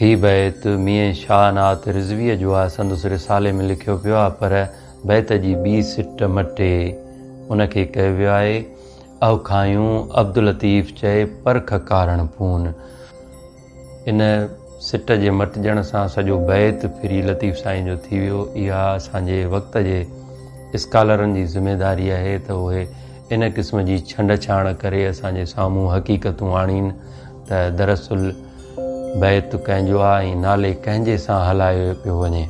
هي بيت ميين شاهه نعت رضويء جو آهي، سندس رسالي ۾ لکيو پيو آهي، پر بيت جي ٻي سٽ مٽي ان کي ڪيو ويو آهي، اهو کانئون عبداللطيف چئي پرک ڪارڻ پون. ان سٽ جي مٽجڻ سان سڄو بيت ڦري لطيف سائين جو ٿي ويو. اها اسان جي وقت جي اسڪالرن جي ذميداري آهي ته اهي ان قسم جي ڇنڊڇاڻ ڪري اسان جي سامهون حقيقتون آڻين. ته دراصل بيت ڪنهن جو آهي ۽ نالي ڪنهن جي سان هلايو پيو وڃي.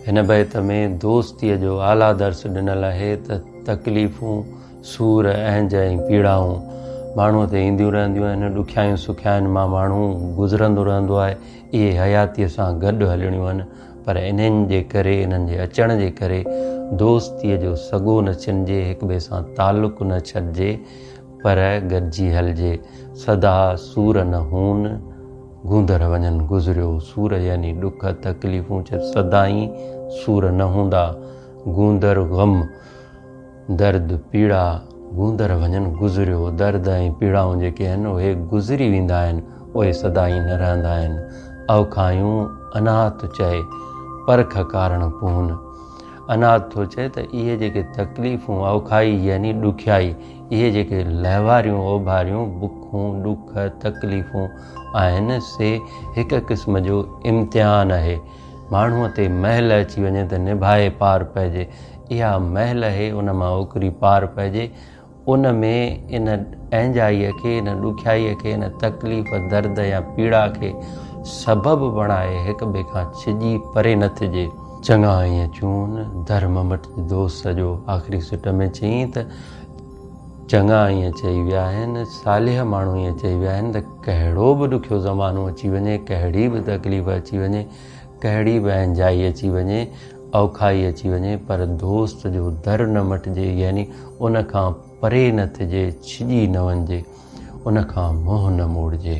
هن بيت ۾ دوستيء جو اعليٰ درس ڏنل آهي ته تڪليفون، سور، اهنج ۽ پيڙائون ماڻهوء تي اينديون رهنديون آهن، ڏکيائيون سکيائين مان ماڻهو گذرندو رهندو آهي، اهي حياتيء سان گڏ هلڻيون آهن، پر انهن جي ڪري، انهن جي اچڻ جي ڪري دوستيء جو سڳو نه ڇنجي، هڪٻئي سان تعلق نه ڇٽجي، پر گڏجي هلجي سدا سور نه هون. گوندر وڃن گذريو سور يعني ڏک تڪليفون چت سدائين سور نه هوندا. گوندر غم، درد، پيڙا، گوندر وڃن گذريو درد ۽ پيڙائون جيڪي آهن اهي گذري ويندا آهن اهي سدائين نه رهندا آهن. اوکايون اناهت ٿو چئي پرک ڪارڻ پونهن. اناهت ٿو چئي ته اهي جيڪي تڪليفون اوکائي يعني ڏکيائي اهي جيڪي لهواريون، اوڀاريون، بکون، ڏک، تڪليفون آهن، سي هڪ قسم جو امتحان اهي. ماڻهوء تي مهل اچي وڃي ته نڀائي پار پئجي. اها مهل اهي، ان مان اوڪري پار پئجي. ان ۾ ان اهنجائيء کي، ان ڏکيائيء کي، ان تڪليف، درد يا پيڙا کي سبب بڻائي هڪٻئي کان ڇڄي پري نه ٿجي. چڱا ائين چون، در ممٽ جي دوست سڄو آخري سٽ ۾ چيائين ته، چڱا ائين چئي ويا آهن، صالح ماڻهو ائين چئي ويا آهن ته ڪهڙو به ڏکيو زمانو اچي وڃي، ڪهڙي به تڪليف اچي وڃي، ڪهڙي به اهنجائي اچي وڃي، اوکائي اچي وڃي پر دوست جو در نه مٽجي يعني ان کان پري نه ٿجي، ڇڄي نه وڃجي، ان کان منهن نه موڙجي.